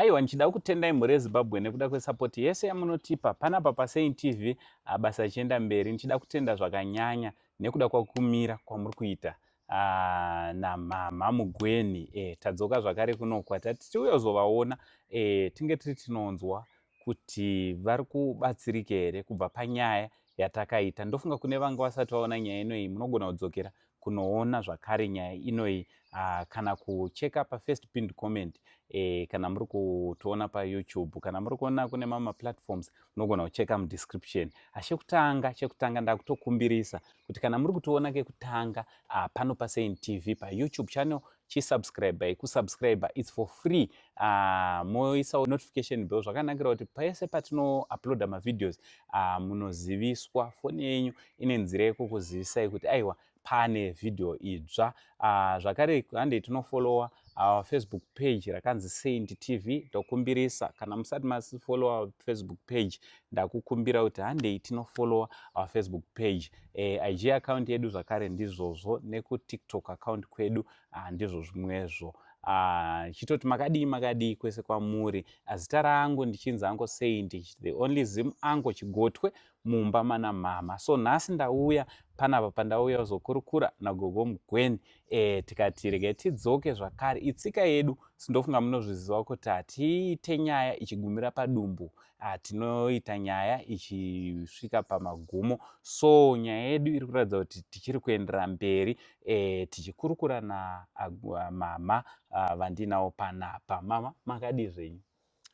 Aiwa ndichida kutendai mhuri yeZimbabwe nekuda kwesupport yese yamunotipa panapa paSaint TV abasa achienda mberi ndichida kutenda zvakanyanya nekuda kwakumira kwamuri kuita Ah, namama mugweni e, tadzoka zvakare kuno kwatati tiuya kuzovaona e, tinge tiri tinonzwa kuti vari kubatsirika here kubva panyaya yatakaita ndofunga kune vanga vasati vaona nyaya inoyi munogona kudzokera kunoona zvakare nyaya inoyi uh, kana kucheka pafirst pinned comment eh, kana muri kutoona payoutube kana muri kuona kune mamwe maplatforms munogona kucheka mudescription achekutanga ah, chekutanga ndakutokumbirisa kuti kana muri kutoona kekutanga uh, pano pasain tv payoutube channel chisubscribei kusubscriber its for free uh, ah, moisawo notification bell zvakanakira kuti pese patinouploada mavideos uh, munoziviswa foni yenyu ine nzira yekukuzivisai kuti aiwa pane video idzva uh, zvakare handei tinofolowa our facebook page rakanzi saint tv ndokumbirisa kana musati masifollowa facebook page ndakukumbira kuti handei tinofollowa our facebook page e, eh, ig account yedu zvakare ndizvozvo nekutiktok account kwedu ah, ndizvo zvimwezvo Ah, chitoti makadii makadii kwese kwamuri azita rangu ndichinzi ango saint the only zim ango chigotwe mumba mana mama so nhasi ndauya panapa pandauya uzokurukura nagogo mugweni e, tikati rege tidzoke zvakare itsika yedu sindofunga munozviziva kuti hatiite nyaya ichigumira padumbu Ah, tinoita nyaya ichisvika pamagumo so nyaya yedu iri kuratidza kuti tichiri kuendera mberi e, tichikurukura namama ah, vandinawo panapa mama makadii zvenyu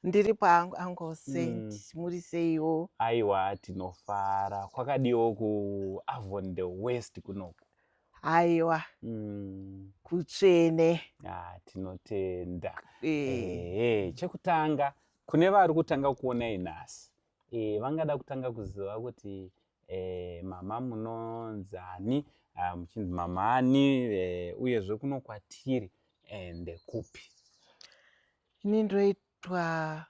ndiri paangu angu saint mm. muri seiwo aiwa tinofara kwakadiwo kuavon the west kunoku aiwa mm. kutsvene ah, tinotenda e. e, chekutanga Kune vari kutanga kuonai nhasi e, vangada kutanga kuziva kuti e, mama munonzi ani ah, muchinzi mama ani e, uyezve kuno kwatiri ende eh, kupi ini ndoitwa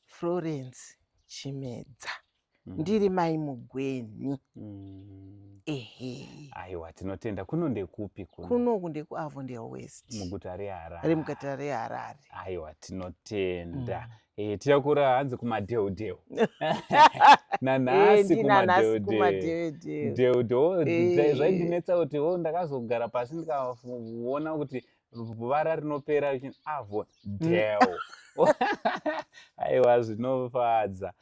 florence chimedza mm. ndiri mai mugwenhi mm. ehe aiwa tinotenda kuno ndekupi kuno kunoku ndekuavo ndewest muguta reharare remuguta reharare aiwa tinotenda mm. e, eh, tirakura hanzi kumadheudheu nanhasi eh, kumadheudheu dheudheu eh. zvaindinetsa kuti o oh, ndakazogara pasi ndikaona kuti vara rinopera richinzi avo dhewo aiwa zvinofadza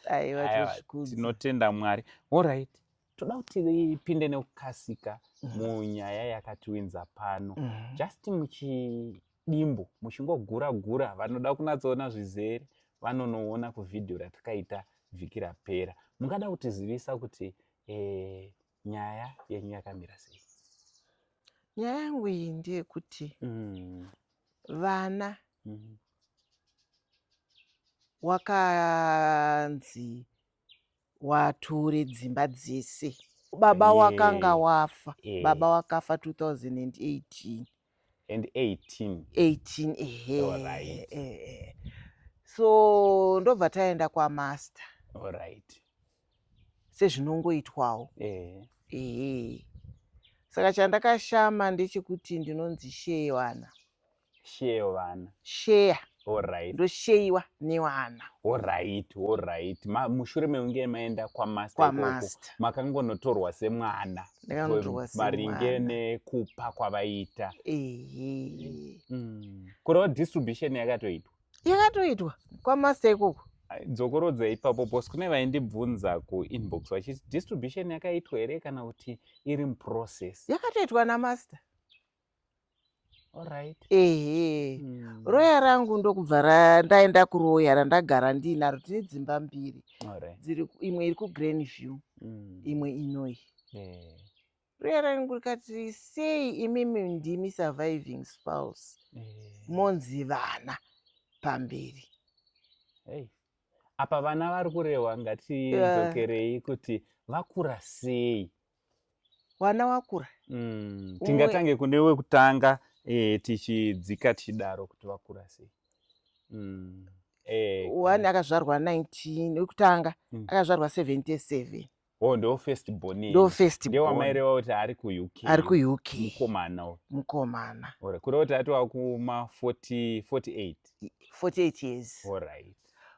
tinotenda mwari orit toda kuti ipinde nekukasika mm. munyaya yakatiwinza pano mm. just muchidimbu muchingogura gura vanoda kunatsoona zvizere vanonoona kuvhidhiyo ratakaita vhiki rapera mungada kutizivisa kuti eh, nyaya yenyu yakamira sei nyaya yangu iyi ndeyekuti mm. vana mm. wakanzi wature dzimba dzese baba wakanga wafa baba wakafa 2018 and 18 18 ehe right. ehe so ndobva taenda kwamaster all right sezvinongoitwawo eh ehe saka chandakashama ndechekuti ndinonzi shee vana share vana share Alright. Ndosheiwa newana. Alright, alright. Ma, mushure meunge maenda kwa master. Kwa master. Makangonotorwa semwana. Ndakanotorwa semwana. Maringe nekupa kwavaita. Ehe. Mm. Kureva distribution yakatoitwa. Yakatoitwa kwa master ikoko. Dzokorodza ipapo boss kune vaindibvunza ku inbox vachiti distribution yakaitwa here kana kuti iri muprocess. Yakatoitwa na master. ehe mm. roya rangu ndokubva ndaenda kuroya randagara ndiinaro tine dzimba mbiri dziri imwe iri kugreen view mm. imwe inoyi eh. roya rangu rikati sei imimi ndimi surviving spouse eh. monzi vana pamberi apa vana vari kurehwa ngatidzokerei kuti vakura sei wana wakura mm. tingatange kune wekutanga eh, tichidzika tichidaro kuti vakura sei mm. eh, one akazvarwa 19 wekutanga mm. akazvarwa 77 Oh, ndo first born ndo first born wamaireva kuti ari ku UK ari ku UK mukomana mukomana ora kuri kuti atova kuma 40 48 48 years all right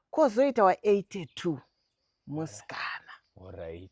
kozoita wa 82 musikana all right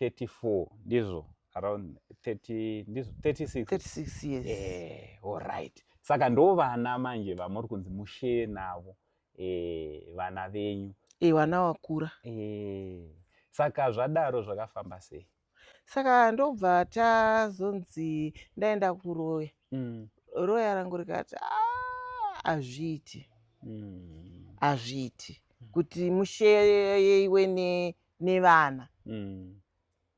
34 ndizvo around 30 ndizvo 36 36 years eh alright saka ndo vana manje vamuri kunzi mushe navo eh vana venyu eh vana wakura eh saka zvadaro zvakafamba sei saka ndobva tazonzi ndaenda kuroya mm. roya rangu rikati ah, hazviiti mm. hazviiti mm. kuti mushe yeiwe ne nevana mm.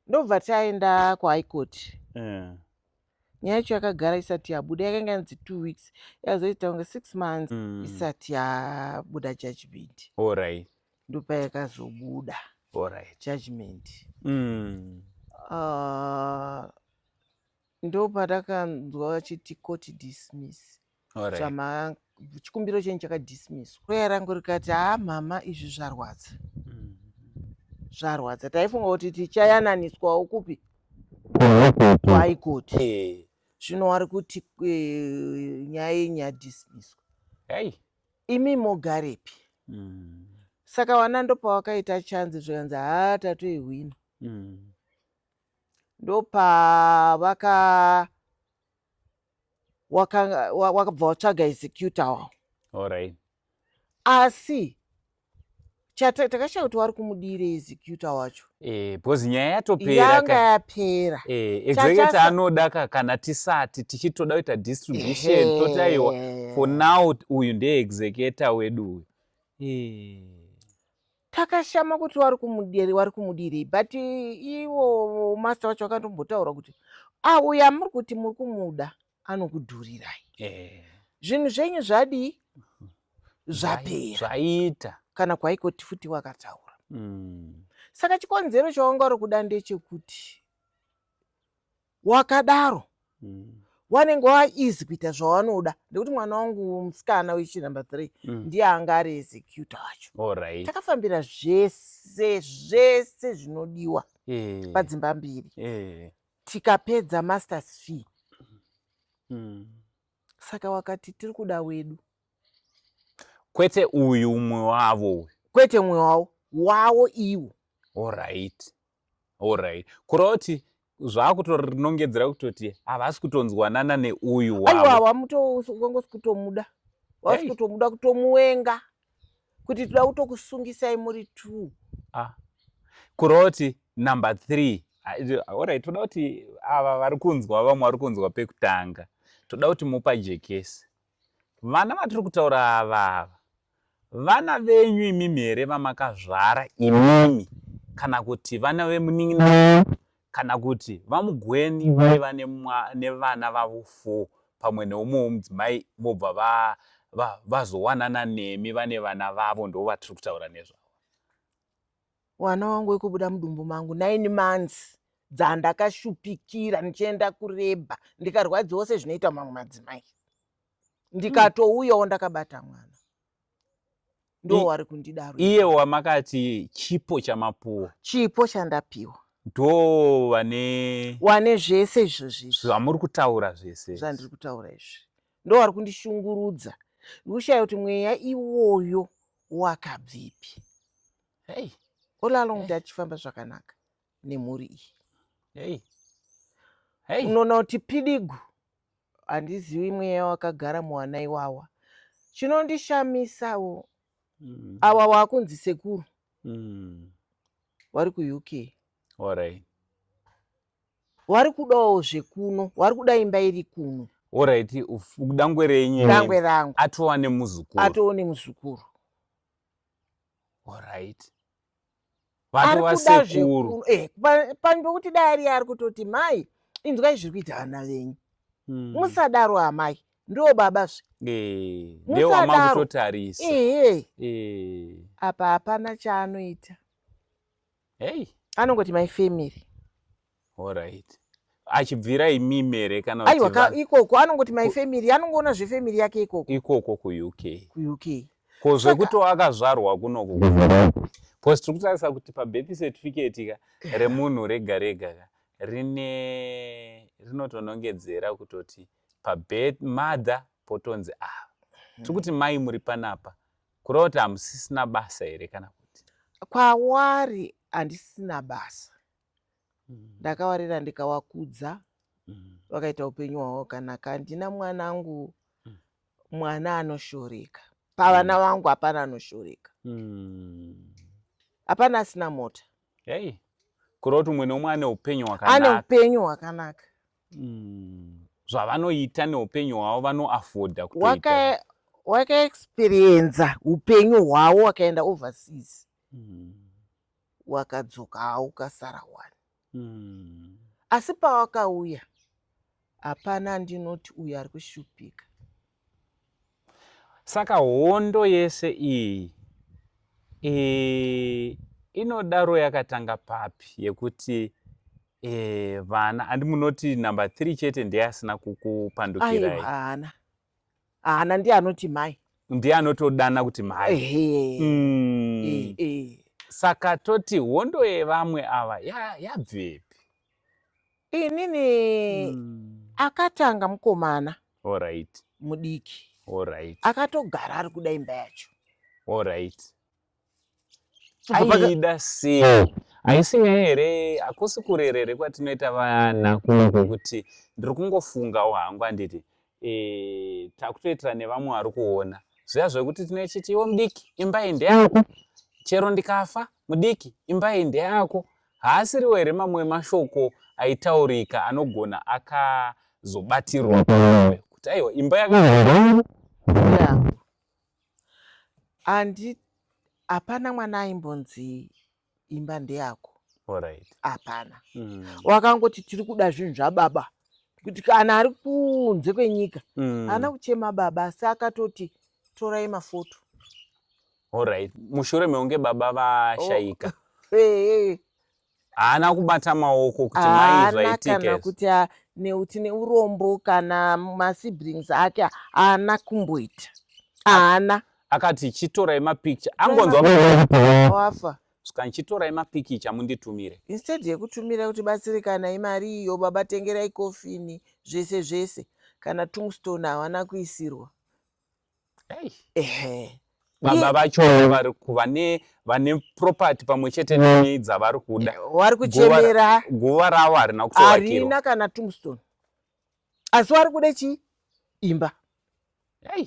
ndobva taenda kuhigh court yeah. nyaya yacho yakagara isati yabuda yakanga yanzi two weeks yazoita kunge six months mm. isati yabuda judgment orit ndopa yakazobuda orit judgment mm. uh, ndopa takanzwa vachiti court dismiss chamanga chikumbiro chenyu chakadismisswa roya rangu rikati haa mama izvi zvarwadza mm-hmm. zvarwadza taifunga kuti tichayananiswawo kupi kuhaikoti eh. zvino wari kuti eh, nyaya yenyu yadismisswa imi mogarepi mm. saka wana ndopawakaita chanzi zvikanzi haa tatoihwina mm. ndopavaka wakabva watsvaga executa wawo orit asi takashaya kuti wari kumudire executa wacho eh, because nyaya yatoperayanga yapera eh, executa anoda ka kana tisati tichitoda kuita distribution toti aiwa for now uyu ndeexecuta wedu uyu eh. takashama kuti wari kumudiri wari kumudirei but iwo master wacho akatombotaura kuti auyo ah, amuri kuti muri kumuda anokudhurirai eh. zvinhu zvenyu zvadii mhm. zvapera zvaita kana kwaikoti futi wakataura mm. saka chikonzero chawanga uri kuda ndechekuti wakadaro mm. wanenge waeasy kuita zvawanoda nekuti mwana wangu musikana wechi number three mm. ndiye anga ari executa wacho right. takafambira zvese zvese zvinodiwa yeah. padzimba mbiri yeah. tikapedza masters fee mm. saka wakati tiri kuda wedu kwete uyu umwe wavo kwete umwe wavo wawo iwo orit Alright. Kuroti zvakutorinongedzera kutoti havasi kutonzwanana neuyu wavo. Aiwa wamutongosi kutomuda. Wasi hey. kutomuda kutomuwenga. Kuti toda kutokusungisai muri two. Ah. Kuroti number 3. Alright, toda kuti ava vari kunzwa vamwe vari kunzwa pekutanga. Toda kuti mupa jekesi. Vana vatiri kutaura ava ava vana venyu imimi here vamakazvara imimi kana kuti vana vemunin'ina wenyu kana kuti vamugweni vaiva nevana vavo four pamwe neumwe womudzimai vobva va, va, vazowanana nemi vane vana vavo ndo vatiri kutaura nezvavo Mwana wangu wekubuda mudumbu mangu nine months dzandakashupikira ndichienda kureba ndikarwadziwa sezvinoita mamwe madzimai ndikatouyawo ndakabata mwana ndo wari kundidaro iye wamakati chipo chamapuwa chipo chandapiwa ndo vane wane zvese izvozvi zvamuri kutaura zvese zvandiri kutaura izvi ndo wari kundishungurudza ndikushaya kuti mweya iwoyo wakabvipi hey all along hey. tachifamba zvakanaka nemhuri iyi hey. hey. unoona kuti pidigu handizivi mweya wakagara muwana iwawa chinondishamisawo mm. awa waakunzi sekuru mm. wari kuuk orit wari kudawo zvekuno wari kuda imba iri kuno orit dangwe renyu dangwe rangu atova nemuzukuru atova nemuzukuru orit vatova sekuru eh, panhu pekuti dai ariye ari kutoti mai inzwai zviri kuita vana venyu hmm. musadaro amai ndo baba zve eh, musadaro ehe eh. apa hapana chaanoita hey anongoti my family alright achibvira imimi here kana aiwa ka ikoko anongoti my family anongoona zvefamily yake ikoko ikoko kuuk kuuk ko zvekuti wakazvarwa kunoku bcause tiri kutarisa kuti pabethi certificate ka remunhu rega rega ka rine rinotonongedzera kutoti pabet mother potonzi ava ah, tiri kuti mai muri panapa Kurota hamusisina basa here kana kuti? Kwawari handisina basa. Mm. Ndakawarira ndikawakudza. Mm. Wakaita upenyu hwawo kana kandina mwanangu mm. mwana anoshoreka. Pavana mm. vangu hapana anoshoreka. Mm. Hapana asina mota. Hey. Kurota umwe neumwe ane upenyu hwakanaka. Ane upenyu hwakanaka. mm. zvavanoita neupenyu hwavo vanoafodha kutoita wakaexperienza upenyu hwavo wakaenda overseas mm. wakadzoka hawo ukasara wani mm. asi pawakauya hapana ndinoti uyo ari kushupika Saka hondo yese iyi e, inodaro yakatanga papi yekuti e, vana handi munoti number 3 chete ndiye asina kukupandukirai haana haana ndiye anoti mai ndiye anotodana kuti mhai mm. saka toti hondo yevamwe ava yabvepi ya inini mm. akatanga mukomana right. mudiki right. akatogara ari kuda imba yacho right. aida sei oh. haisi nyaya here hakusi kurerere kwatinoita vana kuno kwekuti ndiri kungofungawo hangu handiti eh, takutoitira nevamwe vari kuona zviya zvekuti tinochiti iwo mudiki imba iyi ndeyako chero ndikafa mudiki imba iyi ndeyako haasiriwo here mamwe mashoko aitaurika anogona akazobatirwa pamoyo kuti aiwa imba yakaaa hapana mwana aimbonzi imba ndeyako hapana mm. wakangoti tiri kuda zvinhu zvababa kuti kana ari kunze kwenyika mm. haana kuchema baba asi akatoti torai mafoto orit mushure meunge baba vashaika oh. eh. haana kubata maoko kuti maizvaitikana kuti neuti neurombo kana masiblings ake haana kumboita haana akati chitorai mapicture angonzwa wafa saka ndichitorai mapikicha munditumire instead yekutumira kuti batsirikanai mari iyo baba tengerai kofini zvese zvese kana tungstone havana kuisirwa ehe baba vacho vari vane vane property pamwe chete nei dzavari kuda eh, wari kuchemera guva ravo harina kutoarina kana tungstone asi wari kuda chii imba hey.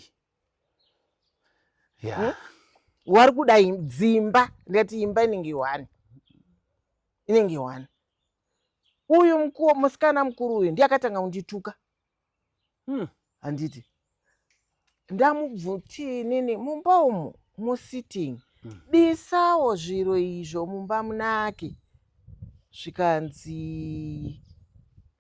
yeah. hmm? wari kuda dzimba ndikati imba inenge one inenge one uyu mukuwo musikana mukuru uyu ndiye akatanga kundituka hmm. handiti hmm ndamubvuti inini mumba umu musitting mm. bisawo zviro izvo mumba munake zvikanzi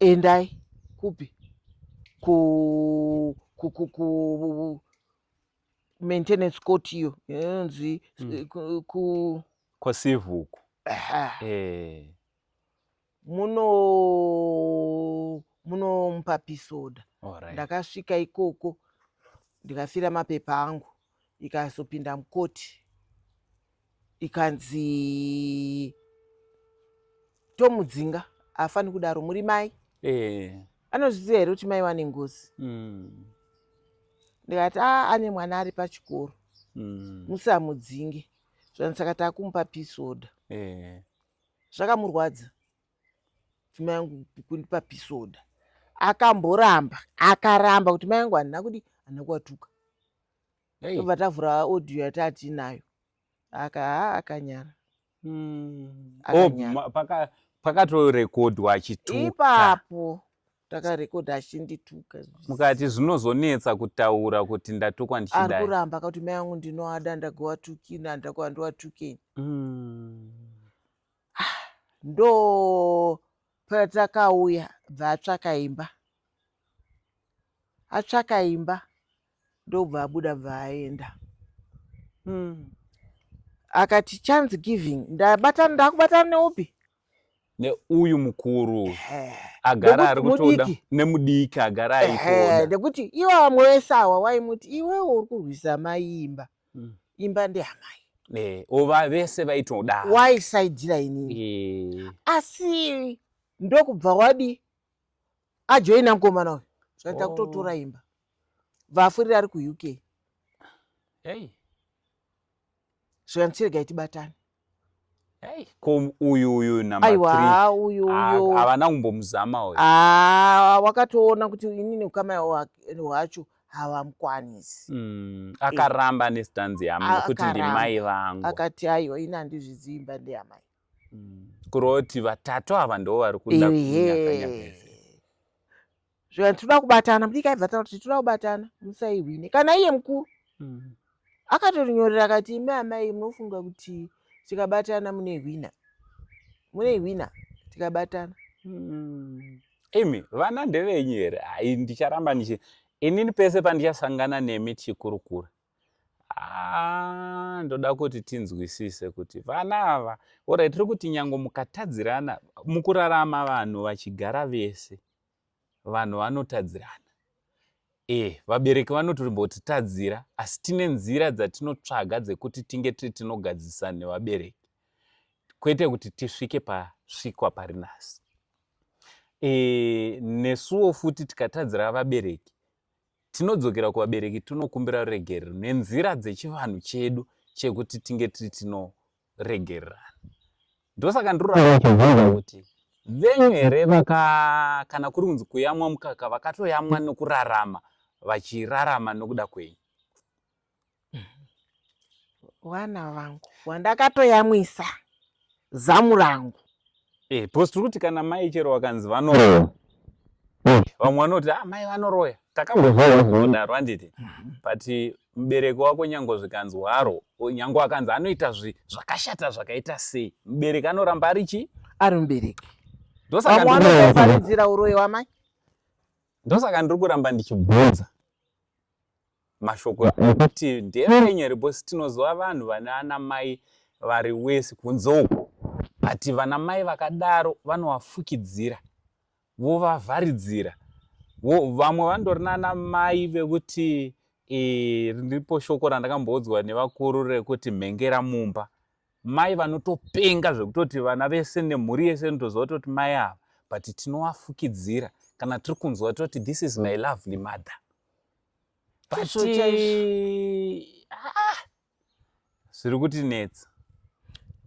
endai kupi ku ku ku ku maintenance court iyo inonzi mm. ku, ku kwasivuku eh. muno munomupa pisoda right. ndakasvika ikoko ndikafira mapepa angu ikazopinda mukoti ikanzi tomudzinga afani kudaro muri mai eh. anozviziva here kuti mai wane ngozi mm. ndikati a ah, ane mwana ari pachikoro mm. musamudzinge zvani saka takumupa pisoda eh. zvakamurwadza kuti mai yangu kundipa pisoda akamboramba akaramba kuti mai yangu handina kudi handina kuwatuka tobva tavhura audio yataatiinayo aka haa akanyara hmm. oh, pakatorekodwa achituka ipapo takarekodha achindituka mukati zvinozonetsa kutaura kuti ndatukwa ndichidai ari kuramba kuti mai angu ndinoada ndagowatukini handida kuva ndowatukeni hmm. ah, ndo patakauya bva atsvaka imba atsvaka imba ndobva abuda bva aenda mm. akati chance giving ndabatana ndakubatana neupi neuyu mukuru agara ari kutoda nemudiki agara aitoda nekuti iwo vamwe wese awa waimuti iwewo uri kurwisa mai imba mm. imba ndeamai Eh, ova vese vaitoda waisaidira inini eh. asi ndokubva wadi ajoina mukomana uyu zvaita kutotora oh. imba bvafurira ari kuuk hey. zvikandichirega itibatane hey. ko uyu uyu aiwa uyu uyu havana kumbomuzama uyu ah, wakatoona kuti ini neukama hwacho havamukwanisi mm, akaramba nestanzi yamai kuti ndimai vangu akati aiwa ini handizviziimba ndeyamai kureva kuti vatatu ava ndo vari kuda zvivanhu tinoda kubatana mudiki aibva taura kuti tinoda kubatana musaihwine kana iye mukuru mm. akatonyorera akati imi amai munofunga kuti tikabatana mune hwina mune hwina tikabatana mm. imi vana ndevenyu here hai ndicharamba ndichi inini pese pandichasangana nemi tichikurukura Ah, ndoda kuti tinzwisise kuti vana ava orai tiri kuti nyango mukatadzirana mukurarama vanhu vachigara vese vanhu vanotadzirana e vabereki vanotombotitadzira asi tine nzira dzatinotsvaga dzekuti tinge tiri tinogadzisa nevabereki kwete kuti tisvike pasvikwa pari nhasi e nesuwo futi tikatadzira vabereki tinodzokera kuvabereki tonokumbira ruregerero nenzira dzechivanhu chedu chekuti tinge tiri tinoregererana ndosaka ndiroraachibvunza kuti venyu here vaka kana kuri kunzi kuyamwa mukaka vakatoyamwa nokurarama vachirarama nokuda kwenyu vana vangu wandakatoyamwisa zamu rangu eh, bcause tiri kuti kana mai chero wakanzi vanoroya eh, vamwe vanoti ah, mai vanoroya takambozodaro handiti mhm. but mubereki wako nyango zvikanzi waro nyango akanzi anoita zvakashata zvakaita sei mubereki anoramba ari chii ari mubereki ndosaka vanotovharidzira uroyi wamai ndosaka ndiri kuramba ndichibvunza mashoko ekuti ndeevenyu here because tinoziva vanhu vane ana mai vari wesi kunze uko but vana mai vakadaro vanovafukidzira vovavharidzira vamwe vandori nana mai vekuti riripo e, shoko randakamboudzwa nevakuru rekuti mhengera mumba mai vanotopenga zvekutoti vana vese nemhuri yese inotoziva kutoti mai ava but tinovafukidzira kana tiri kunzwa toti this is my lovely mother ah, zviri kuti netsa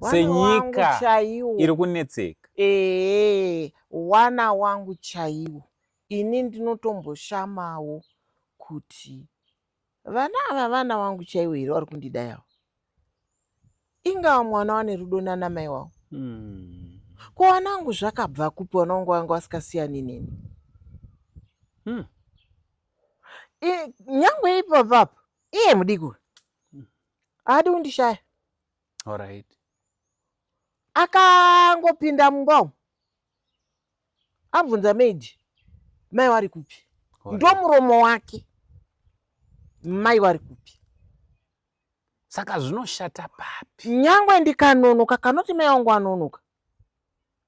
senyika chaiwo iri kunetseka ee wana wangu chaiwo ini ndinotomboshamawo kuti vana ava vana wangu chaiwo here vari kundida yavo ingawa mwana wane rudo nana mai wavo hmm. ko wana wangu zvakabva kupi wana wangu wanga wasikasiyani neni hmm. nyangwe ipapa apa iye mudiki uyu haadi kundishaya alright akangopinda mumba umu abvunza maid mai wari kupi ndomuromo wake mai wari kupi saka zvinoshata papi nyangwe ndikanonoka kanoti mai wangu anonoka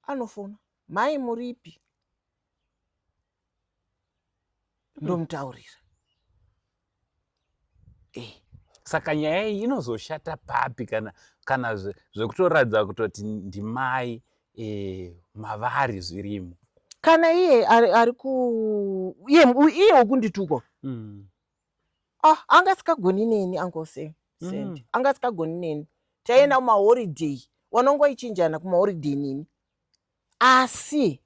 anofona mai muripi ndomutaurira eh. saka nyaya iyi inozoshata papi kana kana zvekutoratidza zve kutoti ndimai eh, mavari zvirimo kana iye ari, ari ku iye iye wekundituko mm. ah, anga asikagoni neni angose mm. anga asikagoni neni taienda kumahoriday wanongoichinjana kumahoriday nini asi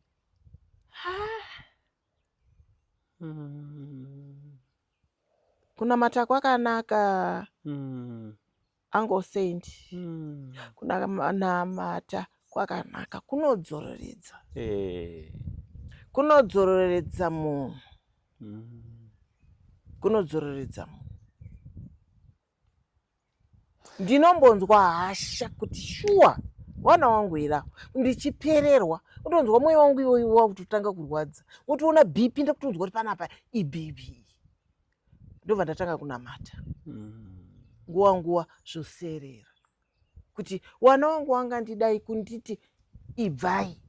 hmm. kunamata kwakanaka hmm. angle saint hmm. kunamata kwakanaka kunodzororedza eh. kunodzororedza munhu hmm. kunodzororedza munhu ndinombonzwa hasha kuti shuwa vana wangu here awo ndichipererwa utonzwa mwoyo wangu iwoyo wakutotanga kurwadza wotoona bp ndakutonzwa kuti panapa ibp ndobva ndatanga kunamata mm. nguva nguva zvoserera kuti wana wangu wanga ndidai kunditi ibvai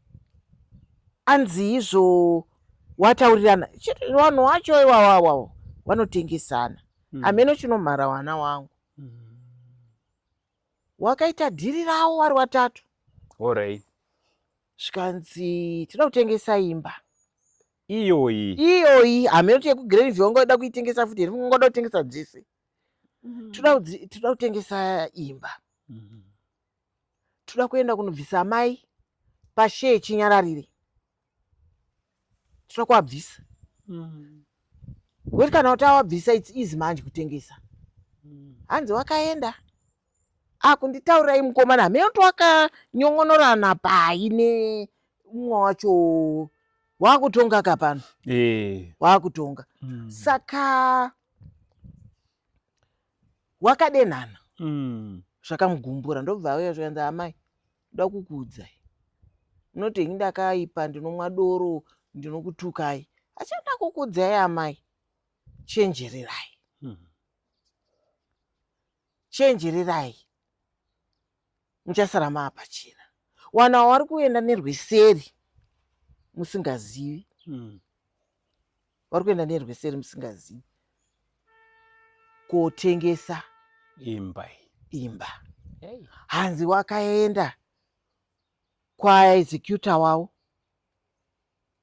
anzi izvo wataurirana vanhu wacho iwawawawo vanotengesana mm. ameno chinomhara wana wangu mm. wakaita dhiri rawo wari watatu ory zvikanzi tinoda kutengesa imba iyoyi iyoyi hameno tiyekugreenville ungoda kuitengesa futi here ungoda kutengesa dzese mm-hmm. toda kudzi- toda kutengesa imba Mhm. toda kuenda kunobvisa amai pashe echinyararire toda kuabvisa Mhm. wekuti kana kuti awabvisa its easy manje kutengesa Mhm. hanzi wakaenda akunditaurai mukomana hameno twakanyon'onorana pai neumwe wacho wakutonga ka pano eh. wakutonga mm. saka wakadenhana mm. zvakamugumbura ndobva auya zvikanzi amai nda kukuudzai unoti ini ndakaipa ndinomwa doro ndinokutukai achanda kukuudzai amai chenjererai mm. chenjererai muchasara maapachena wana wawari kuenda nerweseri musingazivi hmm. wari kuenda nerweseri musingazivi kotengesa imba imba hanzi wakaenda kwaexecutor wavo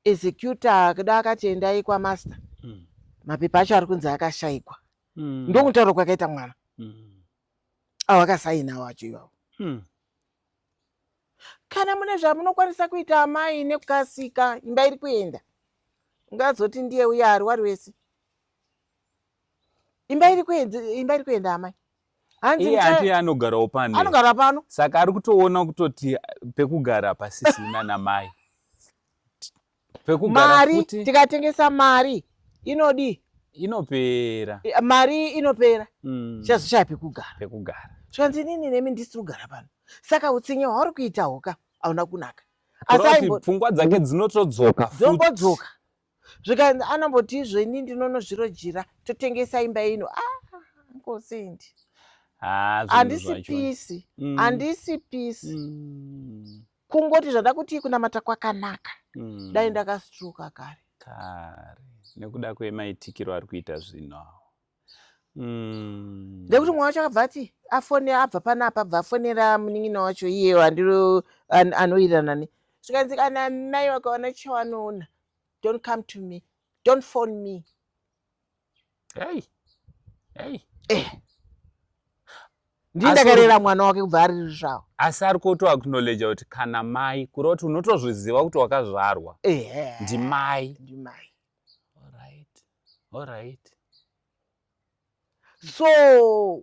executor akada akati endai kwamaster mm. mapepa acho ari kunzi akashaikwa mm. ndokutaura kwakaita mwana mm. avo akasainawo acho ivavo mm. kana mune zvamunokwanisa kuita amai nekukasika imba iri kuenda ungazoti ndiye uye ari wari wese imba iri kuenda amai hanzi iye ati anogarawo pano anogara pano saka ari kutoona kutoti pekugara pasisina namai pekugara mari tikatengesa mari inodii inopera mari inopera mm. chazoshaya pekugara pekugara zvikanzi inini nemi ndisiri kugara pano saka utsinye hwauri kuita hoka hauna kunaka pfungwa dzake dzinotodzoka dzongodzoka zvikanzi anomboti izvo ini ndinonozvirojira totengesa imba ino ah, ngosendi handisi pisi handisi mm. pisi mm. kungoti zvada kuti kunamata kwakanaka mm. dai ndakastruka kare kare nekuda kwemaitikiro ari kuita zvino mm. nekuti mwana wacho akabva ati afone abva pana apa bva afonera munin'ina wacho iye andiro anoirana ne zvikanzi kana mai wakaona chawanoona don't come to me don't phone me hey. Hey. Eh. ndindakarera mwana wake kubva ari zvavo asi ari kuto acknowledge kuti kana mai kureva kuti unotozviziva kuti wakazvarwa ndimai ndimai Alright. So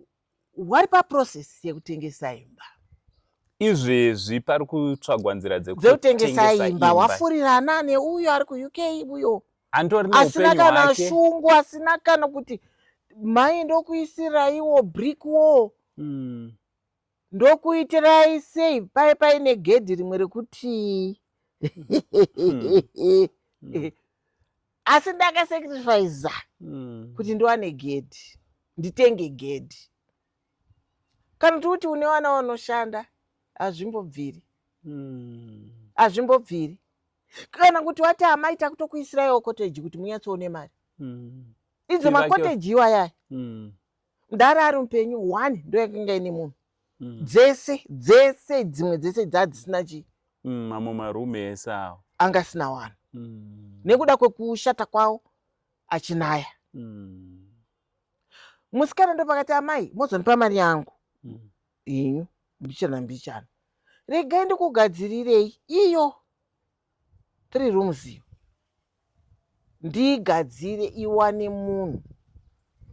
wari paprocess yekutengesa imba? Izvezvi pari kutsvagwa nzira dzekutengesa imba. Wafurirana neuyo ari kuUK uyo asina kana shungu, asina kana kuti mai ndokuisiraiwo brick wall. Mm. Ndokuitirai sei paye paine gedhi rimwe rekuti hmm. asi ndakasacrifiza hmm. kuti ndiwane gedhi nditenge gedhi kana kuti kuti une vana vanoshanda hazvimbobviri hmm. hazvimbobviri kana kuti wati amai takutokuisiraiwo koteji kuti munyatsoone mari idzo makoteji iwayaya mdara ari mupenyu one ndo yakanga ine munhu mm. dzese dzese dzimwe dzese dzaa dzisina chii mm, mamwe marume ese awo anga asina wani mm. nekuda kwekushata kwawo achinaya mm. musikana ndo pakati amai mozondipa mari yangu mm. inyu mbichana mbichana regai ndikugadzirirei iyo three rooms iyo ndiigadzire iwane munhu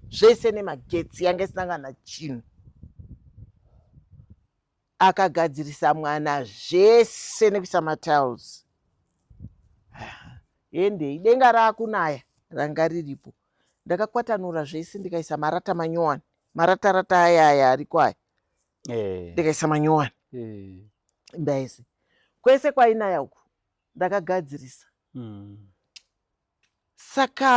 zvese nemagetsi yanga isina kana chinhu akagadzirisa mwana zvese nekuisa matiles hendei denga raakunaya ranga riripo ndakakwatanura zvese ndikaisa marata manyowani maratarata aya aya ariko aya eh. ndikaisa manyowani eh. imba yese kwese kwainaya uku ndakagadzirisa mm. saka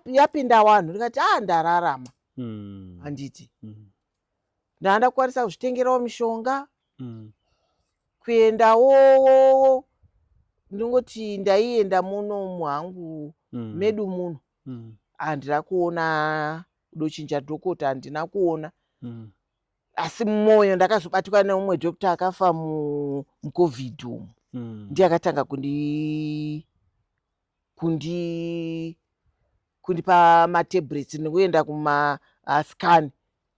yapinda wanhu ndikati a ah, ndararama mm. handiti mm. ndaa ndakukwanisa kuzvitengerawo mishonga mm. kuendawowowo ndingoti ndaienda muno muhangu mm. medu muno mm. handina kuona dochinja dhokota handina kuona mm. asi mumwoyo ndakazobatikwa neumwe doctor akafa mucovid umu mm. ndiye akatanga kundi kundi kundipa matablets nekuenda kumascan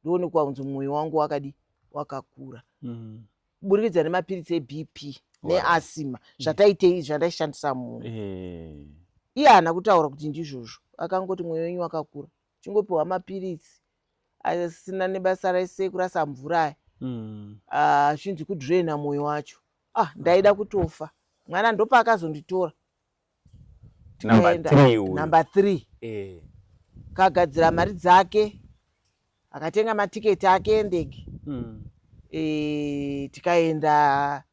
ndoonekwa kunzi mwoyo wangu wakadi wakakura mm. kuburikidza nemapiritsi ebp neasima zvataitei zvandaishandisa munhu eh. iye haana kutaura kuti ndizvozvo akangoti mwoyo wenyu wakakura chingopiwa mapiritsi asina nebasa rese kurasa mvura aya mm. ah, zvinzi kudraina mwoyo wacho ah ndaida kutofa mwana ndopaakazonditora number three uyu number three eh kagadzira mari dzake akatenga matiketi ake endege mm. e, tikaenda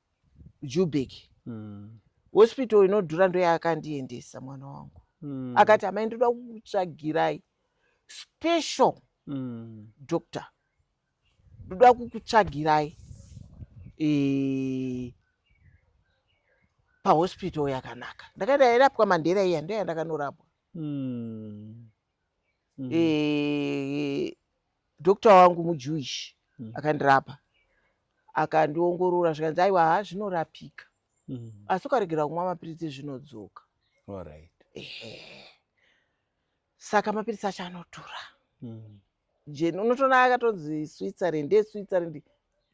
jubek mm. hospital inodhura ndoyaakandiendesa mwana wangu mm. akati amai ndoda kukutsvagirai special mm. doctor ndoda kukutsvagirai eh, pahospital yakanaka ndakaenda yairapwa mandera iya ndo yandakanorapwa hmm. hmm. eh, dokta wangu mujewish hmm. akandirapa akandiongorora zvikanzi aiwa ha zvinorapika asi ukaregera kumwa mapiritsi zvinodzoka saka mapiritsi acho anodhura jeni unotoona akatonzi switzerland eswitzerland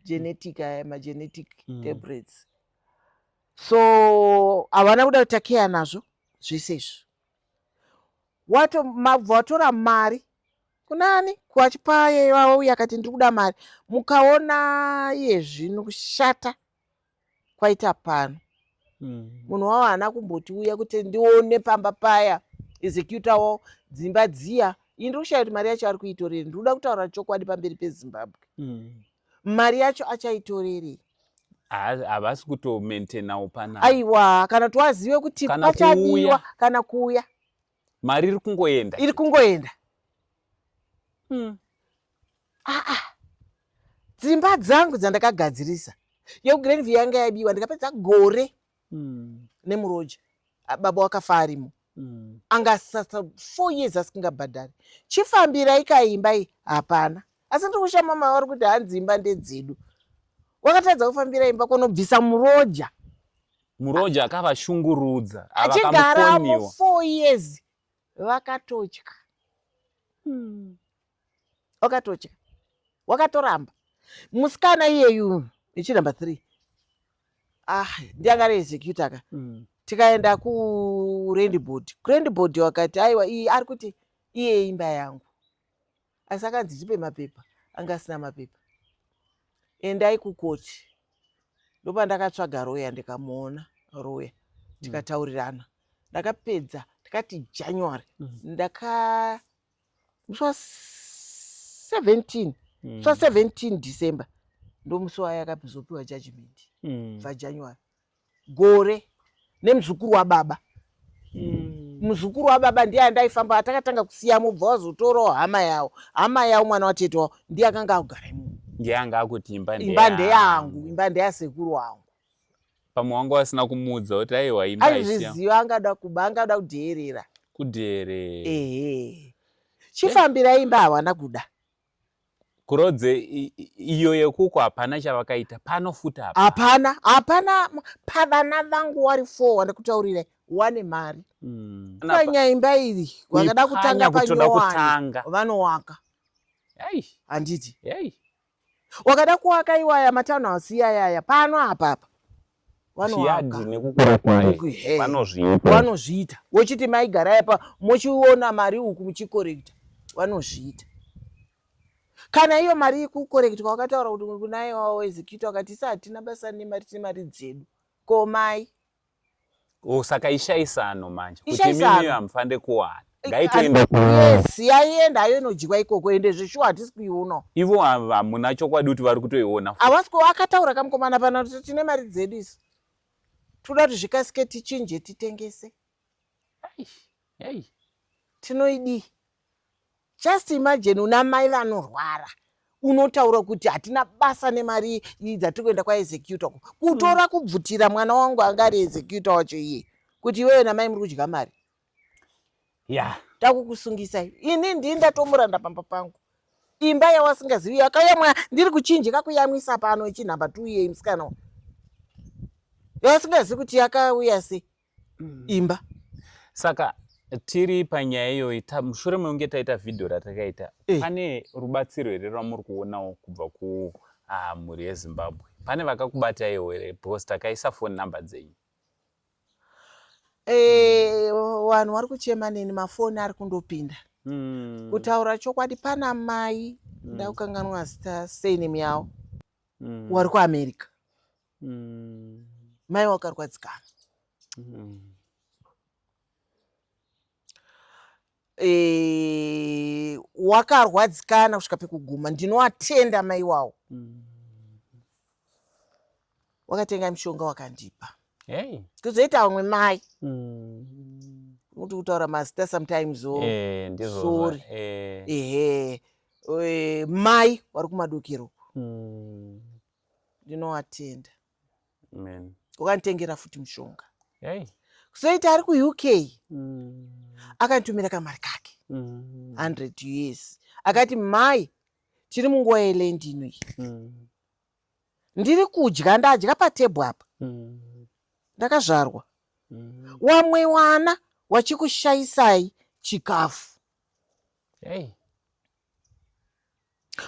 genetic aya magenetic mm. tabrets so havana kuda kutakeya nazvo zvese izvo wato mabva watora mari kunani kuachipaye vavo uye akati ndiri kuda mari mukaona iye zvino kushata kwaita pano mm. munhu wavo haana kumbotiuya kuti ndione pamba paya executa wavo dzimba dziya ini ndikushaya kuti mari yacho ari kuitorerei ndiri kuda kutaura chokwadi pamberi pezimbabwe mm. mari yacho achaitorerei havasi kutomaintainawo pana aiwa kana tiwazive kuti pachadiwa kana kuuya mari iri kungoenda iri kungoenda mm. ah, ah. dzimba dzangu dzandakagadzirisa yogrenvi yanga yabiwa ndikapedza gore mm. nemuroja baba wakafa arimo mm. anga asasa four years asingabhadhari chifambirai kaimbai hapana asi ndiri kushama mavari kuti hanzi imba ndedzedu wakatadza kufambira imba kunobvisa muroja Muroja akavashungurudza achigara four years vakatotya hmm. wakatotya wakatoramba musikana iyeyu ichi number three ah ndianga reexecuta ka mm. tikaenda kurendboard kurendboard wakati aiwa iyi ari kuti iye imba yangu asi akanzi ndipe mapepa anga asina mapepa endai kukoti ndopandakatsvaga roya ndikamuona roya mm. tikataurirana ndakapedza ndakati january mm. ndaka musi wa 17 musi wa 17 mm. december ndomusi wayakazopiwa judgment bva january gore nemuzukuru wababa mm. muzukuru wababa ndiye andaifamba atakatanga kusiya mubva wazotorawo hama yawo hama yawo mwana watete wawo ndiye akanga akugara imomo ndiye anga akuti imba imba ndeyangu imba ndeyasekuru wangu pamwe wanga wasina kumuudza kuti aiwa imba aizviziva angada kuba angada kudheerera kudheerera ehe chifambira imba hawana kuda Kurodze iyo yekuko hapana chavakaita pano futa hapa. Hapana, hapana pavana vangu wari four wandikutaurira wane mari. Mm. Panya imba iri wakada kutanga panyowani vanowaka. Hey. Handiti. Hey. Wakada kuwaka iwaya matano hasiya yaya pano hapa hapa. vanoaka nekukura kwayo vanozviita vanozviita wochiti maigarai pa mochiona mari uku muchikorekta vanozviita kana iyo mari ikukorektwa wakataura kuti kunaye wawo executa wakati isa hatina basa nemari tine mari dzedu komai Oh, saka ishaisano manje kuti mimi hamufande kuwana ngaitoenda yes yaienda ayo inodyiwa ikoko ende zveshuwa hatisi kuiona ivo hamuna chokwadi kuti vari kutoiona havasi ku akataura kamukomana pana kuti tine mari dzedu isu toda kuti zvikasike tichinje titengese tinoidii Just imagine una mai vanorwara unotaura kuti hatina basa nemari dzatiri kuenda kwaexecuta ku kutora kubvutira mwana wangu anga ari executa wacho iye kuti iwewe namai muri kudya mari ya takukusungisai ini ndii ndatomuranda pamba pangu imba yawasingazivi yakayamwa ndiri kuchinjika kuyamwisa pano ichinhamba tuuyei musikana yawasingazivi kuti yakauya sei mm. imba saka tiri panyaya iyoyi mushure mekunge taita vhidhiyo ratakaita eh. pane rubatsiro here rwamuri kuonawo kubva kumhuri ah, yezimbabwe pane vakakubataiwo here because takaisa foni number dzenyu eh, vanhu vari kuchema neni mafoni ari kundopinda hmm. kutaura chokwadi pana mai hmm. ndakukanganwa zita surname yavo hmm. wari kuamerica mai wakarwadzikana Eh, wakarwadzikana kusvika pekuguma ndinoatenda mai wawo mm. wakatenga mushonga wakandipa hey. kuzoita vamwe mai mm. kuti kutaura mazita sometimes o oh. eh, sorry eh. ehe mai wari kumadokero mm. ndinovatenda ukanditengera futi mushonga kuzoita ari kuuk mm. akanditumira kamari kake 100 mm. us akati mai tiri munguva yelendi ino iyi mm. ndiri kudya ndadya patebhu apa ndakazvarwa wamwe wana wachikushayisai chikafu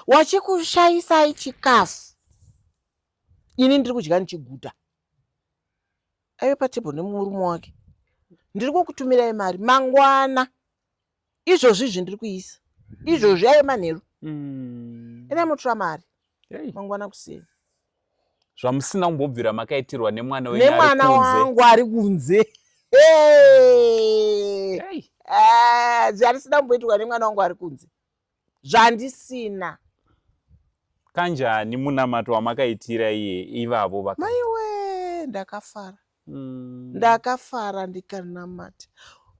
wachikushayisai chikafu ini ndiri kudya ndichiguta aive patable nemurume wake ndiri kukutumirai mari mangwana izvozvi izvi ndiri kuisa izvozvi aive manheru mm. ina mutura mari mangwana kuseni zvamusina kumbobvira makaitirwa nemwana wenyu nemwana wangu ari kunze ah, zvarisina kumboitirwa nemwana wangu ari kunze zvandisina kanjani munamato wamakaitira iye ivavo vaka maiwe ndakafara mm. ndakafara ndikanamata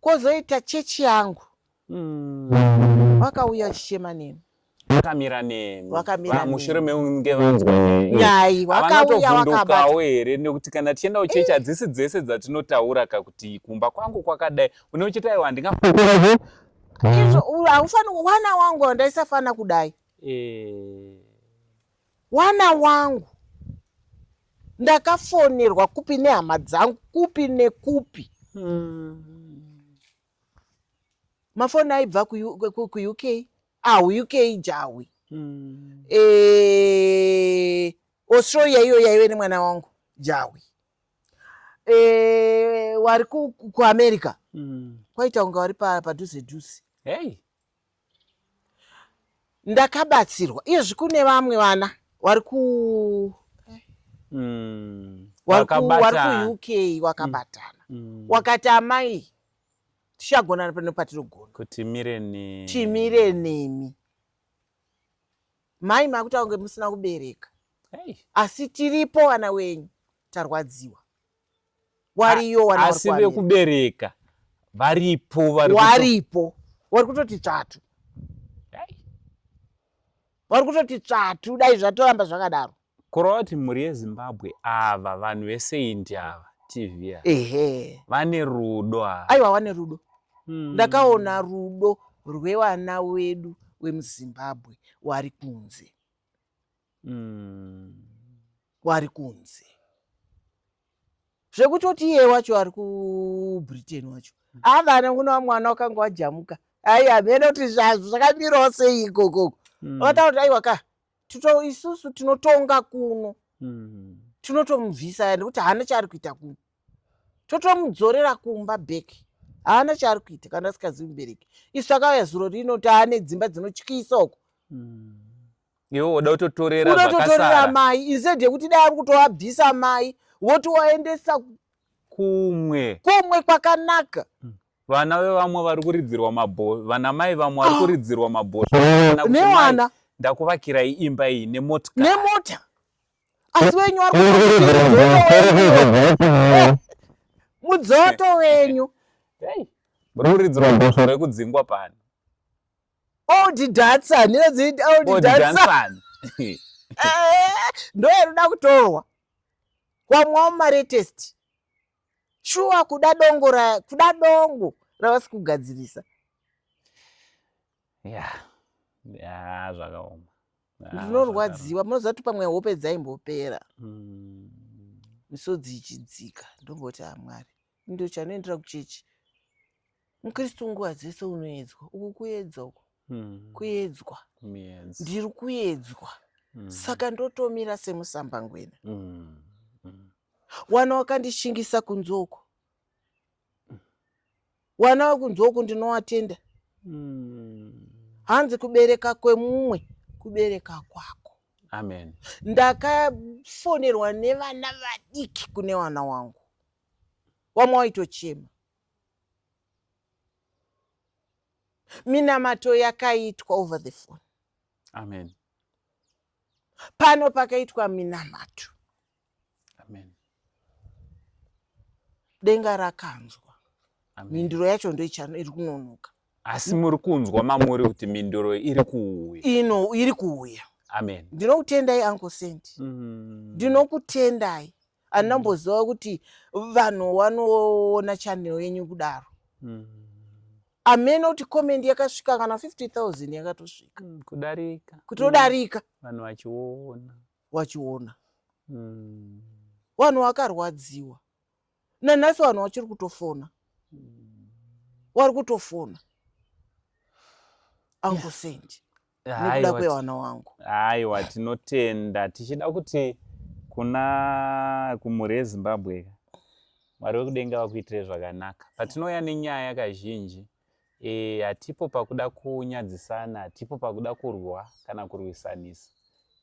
kwozoita chechi yangu mm. vakauya chichema nemi vakamira nemi vakamira mushure meunge vanzwa nyai vakauya vakabata here nekuti kana tichienda kuchechi eh. hadzisi dzese dzatinotaura kakuti kumba kwangu kwakadai unochita iwa handingafukurazve izvo haufaniri wana wangu ndaisafanira kudai eh. Wana wangu ndakafonerwa kupi nehama dzangu kupi nekupi hmm. mafoni aibva kuuk ahuuk jahwi hmm. e, eh, australia iyo yaive nemwana wangu jahwi e, eh, wari kuamerica hmm. kwaita kunge wari padhuze dhuze hey. ndakabatsirwa iyezvi kune vamwe vana wari ku mm. wari kuuk wakabatana mm. mm. wakati amai tichagonana pano patirogona kuti mire nemi timire nemi mai makutaura kunge musina kubereka hey. asi tiripo vana wenyu tarwadziwa wariyo wana asi wari kuamira. vekubereka varipo vari kuto- waripo wari kutoti tsvatu Dai. wari kutoti tsvatu dai zvatoramba zvakadaro kureva kuti mhuri yezimbabwe ava vanhu veseindi ava tv ava ehe vane rudo ava aiwa wane rudo Mm. ndakaona rudo rwevana wedu wemuzimbabwe wari kunze mm. wari kunze zvekutoti iye wacho ari kubritain wacho mm. avana kunoa mwana wakanga wajamuka aiwa hamene kuti zvazvo zvakamirawo sei ikokoko mm. vata kuti aiwa ka tito isusu tinotonga kuno mm. tinotomubvisa nekuti haana chaari kuita kuno totomudzorera kumba back haana chaari kuita kana asikazivi mubereki isu takauya zuro rino taane dzimba dzinotyisa uko hmm. iwe woda kutotorera unototorera mai instead yekuti dai ari kutoabvisa mai woti waendesa kumwe kumwe kwakanaka hmm. vana vevamwe vari kuridzirwa mabho vana mai vamwe vari ah. kuridzirwa mabhosva nevana ndakuvakirai imba iyi nemota nemota asi wenyu ari mudzoto wenyu ruridzirwa bhosvo rekudzingwa pano old dancer ndinodziiti old dancer ndo yaruda kutorwa kwamwawo maretest shuwa kuda dongo ra kuda dongo ravasi kugadzirisa ya ya zvakaoma Ah, ndinorwadziwa munoziva kuti pamwe hope dzaimbopera hmm. misodzi ichidzika ndomboti hamwari ah, ndo chanoendera kuchechi mukristu nguva dzese unoedzwa uku kuedzwa uku hmm. kuedzwa ndiri kuedzwa hmm. saka ndotomira semusambangwena wana wakandishingisa kunzoko wana wekunzwa uku ndinowatenda mm. hanzi kubereka kwemumwe kubereka kwako amen ndakafonerwa nevana vadiki kune wana wangu wamwe waitochema minamato yakaitwa over the phone amen pano pakaitwa minamato Amen. Denga rakanzwa. Amen. Mhinduro yacho ndoichano iri kunonoka. Asi muri kunzwa mamuri kuti mhinduro iri kuuya. Ino iri kuuya. Amen. Ndinokutendai Uncle Saint. Mm. Ndinokutendai. Mm. Anamboziva kuti vanhu wanoona channel yenyu kudaro. Mm. Ameno kuti comment yakasvika kana 50000 yakatosvika. Mm, kudarika. Kutodarika. Vanhu vachiona. wachiona mm. vanhu vakarwadziwa nanhasi vanhu vachiri kutofona mm. wari kutofona angosendi yeah. nekuda kwevana wangu aiwa tinotenda tichida kuti kuna kumhuri yezimbabwe mwari wekudenga vakuitire zvakanaka patinouya nenyaya kazhinji Eh, hatipo pakuda kunyadzisana, hatipo pakuda kurwa kana kurwisanisa.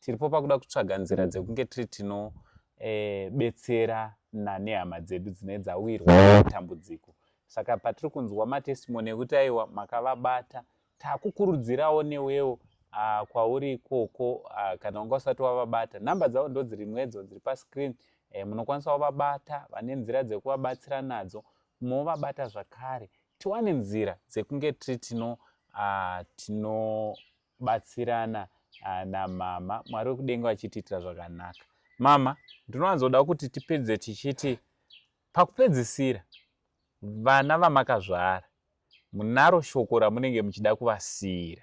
Tiripo pakuda kutsvaga nzira dzekunge tiri tino eh, betsera nane hama dzedu dzine dzawirwa matambudziko. Saka patiri kunzwa matestimony ekuti aiwa makavabata, takukurudzirawo newewo uh, kwauri ikoko uh, kana wanga usati wavabata namba dzavo ndo dzirimwedzo dziri pascreen eh, munokwanisa wavabata vane nzira dzekuvabatsira nadzo movabata zvakare tiwane nzira dzekunge tiri tino uh, tinobatsirana uh, namama mwari wekudenga vachitiitira zvakanaka mama ndinowanzoda kuti tipedze tichiti pakupedzisira vana vamakazvara munaro shoko ramunenge muchida kuvasiyira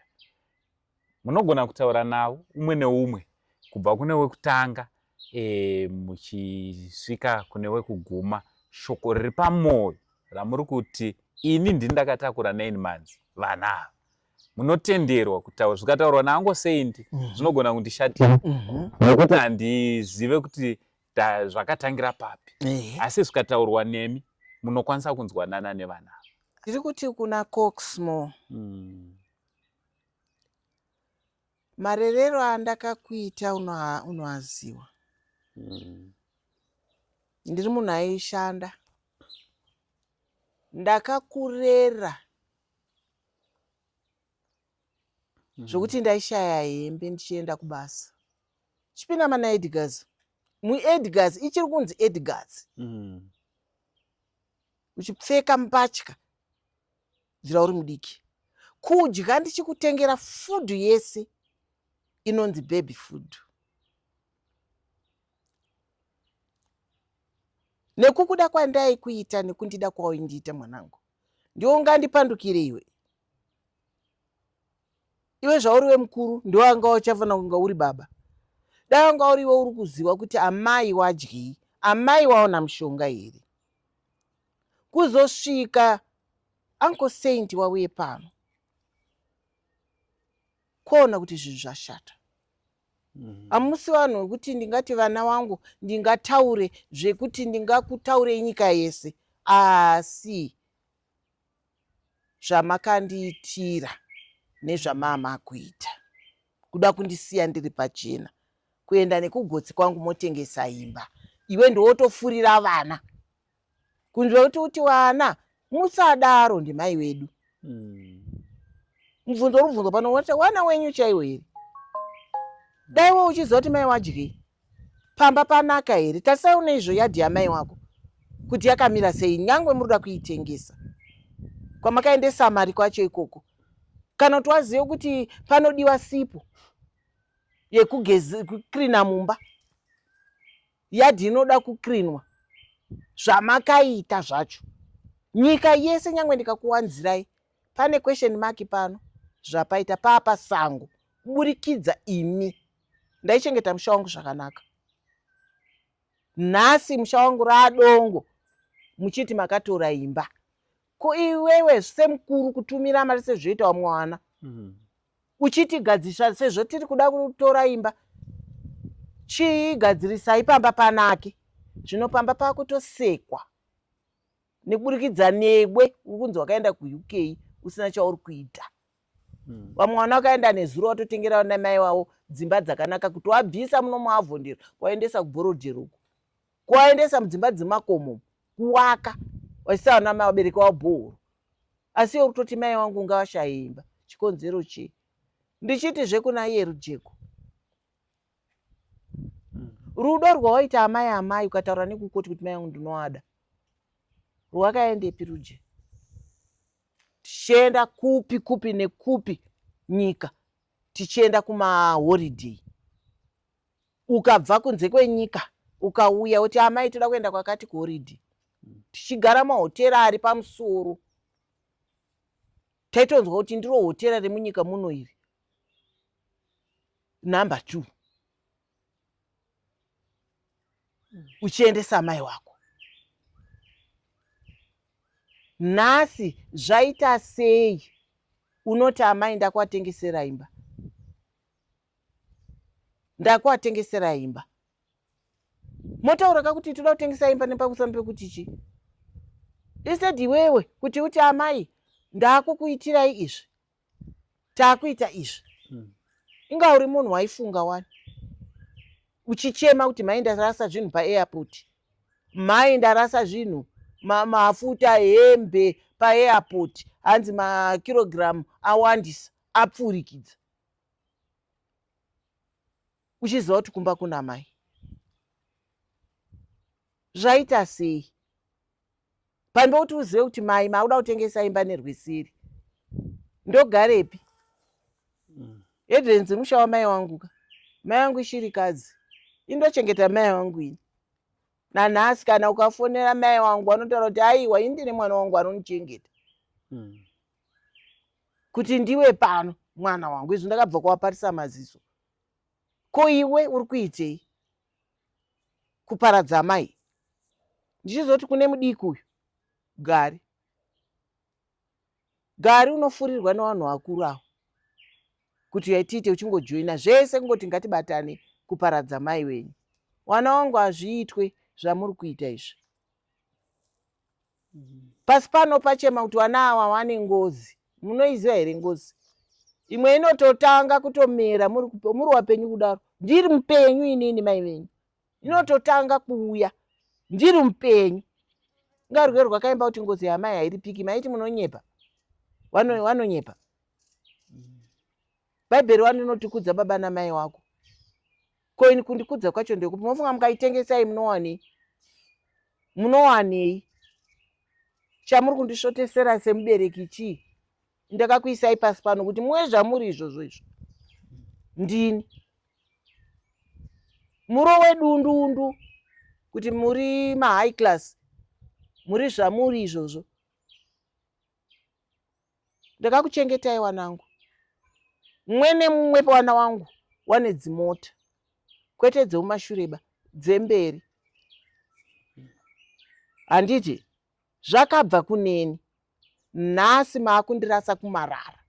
munogona kutaura navo umwe neumwe kubva kune wekutanga e, muchisvika kune wekuguma shoko riri pamwoyo ramuri kuti ini ndini ndakatakura nine months vana ava munotenderwa kutaura zvikataurwa nango sei ndi mhm. zvinogona kundishatira mhm. nokuti handizive kuti zvakatangira papi asi zvikataurwa nemi munokwanisa kunzwanana nevana tiri kuti kuna coxmo mm. marerero andakakuita unoaziwa mm. ndiri munhu aishanda ndakakurera mm. zvokuti ndaishaya hembe ndichienda kubasa chipinda mana edgars muedgars ichiri kunzi edgars mm. uchipfeka mbatya dzira uri mudiki kudya ndichikutengera fudhu yese inonzi baby fudhu nekukuda kwandaikuita nekundida kwawaindiita mwanangu ndiwo ungandipandukire iwe iwe zvauri wemukuru ndiwo anga uchafanira kunga uri baba dai wanga uri iwe uri kuziva kuti amai wadyei amai waona mushonga here kuzosvika uncle saint wauye pano kwaona kuti zvinhu zvashata mm-hmm. hamusi vanhu vekuti ndingati vana wangu ndingataure zvekuti ndingakutaurei nyika yese asi zvamakandiitira nezvamama kuita kuda kundisiya ndiri pachena kuenda nekugotsi kwangu motengesa imba iwe ndiwotofurira vana kunzwa kuti kuti vana musadaro ndimai wedu hmm. mubvunzo rubvunzo pano wana wenyu chaiwo here dai wo uchiziva kuti mai wadyei Pamba panaka here? Tarisai une izvo yadhi yamai wako kuti yakamira sei nyangwe muri kuda kuitengesa kwamakaendesa mari kwacho ikoko kana kuti wazive kuti panodiwa sipo yekukrina mumba yadhi inoda kukrinwa zvamakaita zvacho nyika yese nyangwe ndikakuwanzirai pane question mark pano zvapaita papa sango kuburikidza imi ndaichengeta musha wangu zvakanaka nhasi musha wangu raadongo muchiti makatora imba ko iwewe semukuru kutumira mari sezvoita wamwe wana mm. uchiti gadzirisa sezvo tiri kuda kutora imba chii gadzirisai pamba panake zvino pamba pakutosekwa nekuburikidza newe uri kunzi wakaenda kuuk usina chauri kuita hmm. vamwe vana vakaenda nezuro vatotengera vana mai vavo dzimba dzakanaka kuti wabvisa muno muavhondero kwaendesa kubhorodhero uko kwaendesa mudzimba dzemakomo kuwaka vachisa vana mai vabereki vavo bhohoro asi iwe kutoti mai wangu ngavashaimba chikonzero chii ndichiti zvekuna iye rujeko rudo rwawaita amai amai ukataura nekukoti kuti mai yangu ndinoada rwakaendepi ruje tichienda kupi kupi nekupi nyika tichienda kumahoriday ukabva kunze kwenyika ukauya kuti amai toda kuenda kwakati kuhoriday tichigara mahotera ari pamusoro taitonzwa kuti ndiro hotera remunyika muno iri number two uchiendesa amai wako nhasi zvaita sei unoti amai ndakuatengesera imba ndakuatengesera imba motauraka kuti toda kutengesa imba nepakusana pekuti chi ised iwewe kuti uti amai ndakukuitirai izvi takuita izvi hmm. inga uri munhu waifunga wani uchichema kuti mai ndarasa zvinhu paairport mai ndarasa zvinhu mafuta hembe paairport hanzi makirogiramu awandisa apfurikidza uchiziva kuti kumba kuna mai zvaita sei pambe kuti uzive kuti mai maauda kutengesa imba nerwisiri ndogarepi mm. hedrenzi musha wamai wangu ka mai wangu ishirikadzi indochengeta mai wangu ini nanhasi kana ukafonera mai wangu anotaura kuti aiwa ini ndine mwana wangu anonichengeta mm. kuti ndiwe pano mwana wangu izvi ndakabva kuwaparisa maziso ko iwe uri kuitei kuparadza mai ndichizoti kune mudiki uyu gari gari unofurirwa nevanhu vakuru avo kuti yaitiite uchingojoina zvese kungoti ngatibatane kuparadza mai wenyu wana wangu hazviitwe zvamuri kuita izvi pasi pano pachema kuti vana awa wane ngozi munoiziva here ngozi imwe inototanga kutomera muri wapenyu kudaro ndiri mupenyu inini mai venyu inototanga kuuya ndiri mupenyu ngarwe rwakaimba kuti ngozi yamai hairipiki maiti munonyepa wanonyepa bhaibheri wani inotikudza baba namai wako ko ini kundikudza kwacho ndekupi mofunga mukaitengesai munowanei munowanei chamuri kundisvotesera semubereki chii ndakakuisai pasi pano kuti muwe zvamuri izvozvo izvo ndini muro wedundundu kuti muri mahigh class muri zvamuri izvozvo ndakakuchengetai wanangu mumwe nemumwe pawana wangu wane dzimota kwete dzeumashureba dzemberi handiti zvakabva kuneni nhasi maakundirasa kumarara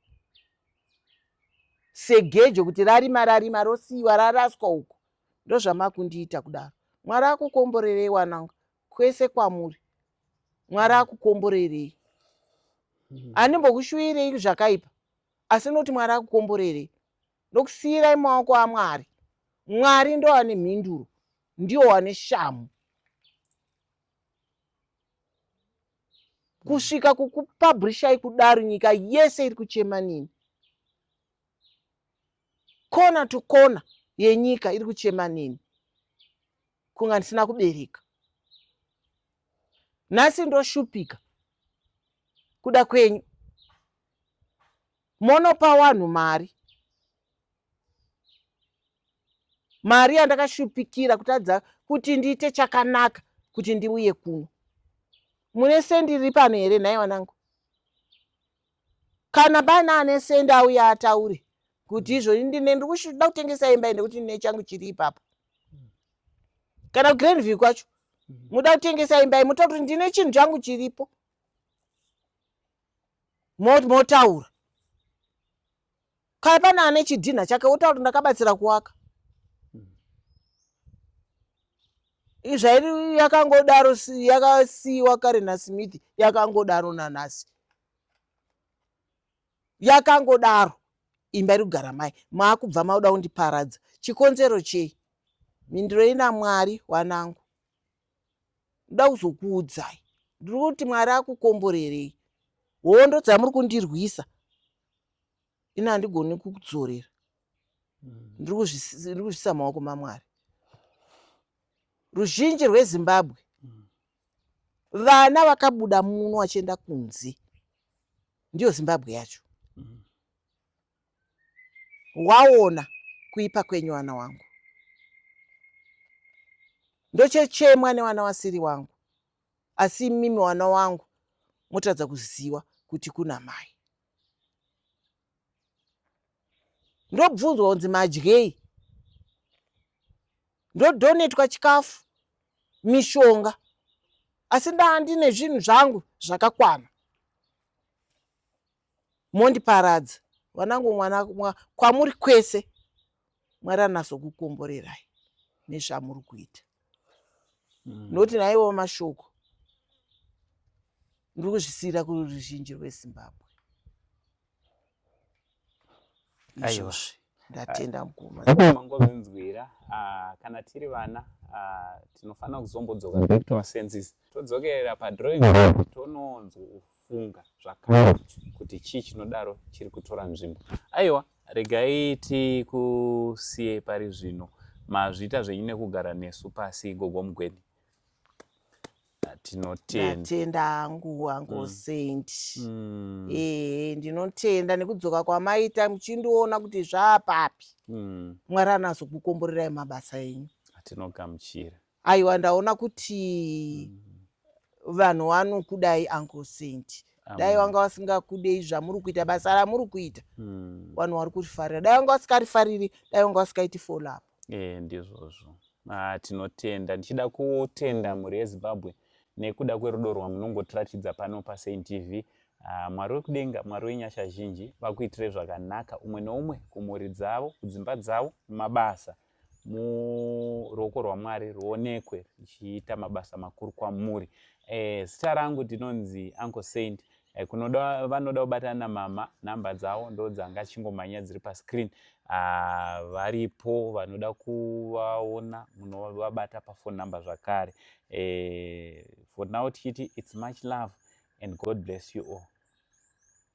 segejo kuti rarima rarima rosiyiwa raraswa uko ndozvamakundiita kudaro mwari akukomborerei wanangu kwese kwamuri mwari akukomborerei hmm. andimbokushuvirei zvakaipa asi noti mwari akukomborerei ndokusiyirai maoko amwari mwari ndo ane mhinduro ndiwo wane shamu kusvika kukupabhurishai kudaro nyika yese iri kuchema nini kona to kona yenyika iri kuchema nini kunga ndisina kubereka nhasi ndoshupika kuda kwenyu monopa wanhu mari mari yandakashupikira kutadza kuti ndiite chakanaka kuti ndiuye kuno mune sendiri pano here nhai wanangu Kana paine ane sende auye ataure kuti izvoni ndine ndiri kuda kutengesa imba ende kuti ndine changu chiri ipapo kana kugrand view kwacho mhm. muda kutengesa imba imuta kuti ndine chinhu changu chiripo motaura Kaya pane ane chidhinha chake wotaura kuti ndakabatsira kuwaka. Izvairi yakangodaro yakasiiwa kare naSmith yakangodaro nanhasi. Yakangodaro imba iri kugara mai maakubva mauda kundiparadza chikonzero chei mhindurei namwari wanangu ndoda kuzokuudzai ndiri kuti mwari akukomborerei hondo dzamuri kundirwisa ini handigoni kukudzorera hmm. ndiri kuzvisa maoko mamwari ruzhinji rwezimbabwe hmm. vana vakabuda muno vachienda kunze ndiyo zimbabwe yacho hmm. waona kuipa kwenyu vana wangu ndochechemwa nevana vasiri wangu asi imimi wana wangu motadza kuziva kuti kuna mai ndobvunzwa kunzi madyei ndodhonetwa chikafu mishonga asi ndaa ndine zvinhu zvangu zvakakwana Mondiparadza vanangu mwana mwa, kwamuri kwese Mwari anasokukomborerai nezvamuri kuita. Mm. Noti naiwo mashoko ndiri kuzvisiyira kuruzhinji rwezimbabwe aiwa ndatenda ah, mukumamangovinzwira ah, kana tiri vana ah, tinofanira kuzombodzoka back to our senses todzokerera padrawing board tononzwa kufunga zvakare kuti chii chinodaro chiri kutora nzvimbo aiwa regai tikusiye pari zvino mazviita zvenyu nekugara nesu pasi gogo mugweni tinotenda hangu hangu mm. saint mm. ee ndinotenda nekudzoka kwamaita muchindiona kuti zvaapapi mm. mwari anazokukomborerai mabasa enyu atinogamuchira Aiwa ndaona kuti mm. vanhu vanokudai uncle Saint. Dai wanga wasingakudei zvamuri kuita basa ramuri kuita. Mm. Vanhu vari kurifarira. Dai wanga wasikarifariri, dai wanga wasikaiti follow up. Eh ndizvozvo. Ah tinotenda. Ndichida kutenda mhuri yeZimbabwe nekuda kwerudo rwamunongotiratidza pano paSaint TV. Ah, mwari wekudenga mwari wenyasha zhinji vakuitire zvakanaka umwe noumwe kumhuri dzavo kudzimba dzavo mumabasa muruoko rwamwari ruonekwe richiita mabasa makuru kwamuri eh, zita rangu ndinonzi uncle saint eh, kunoda vanoda kubatana namama nhamba dzavo ndodzanga chingomhanya dziri pascreen ah, varipo vanoda kuvaona munovabata pafone number zvakare eh, for now tichiti its much love and god bless you all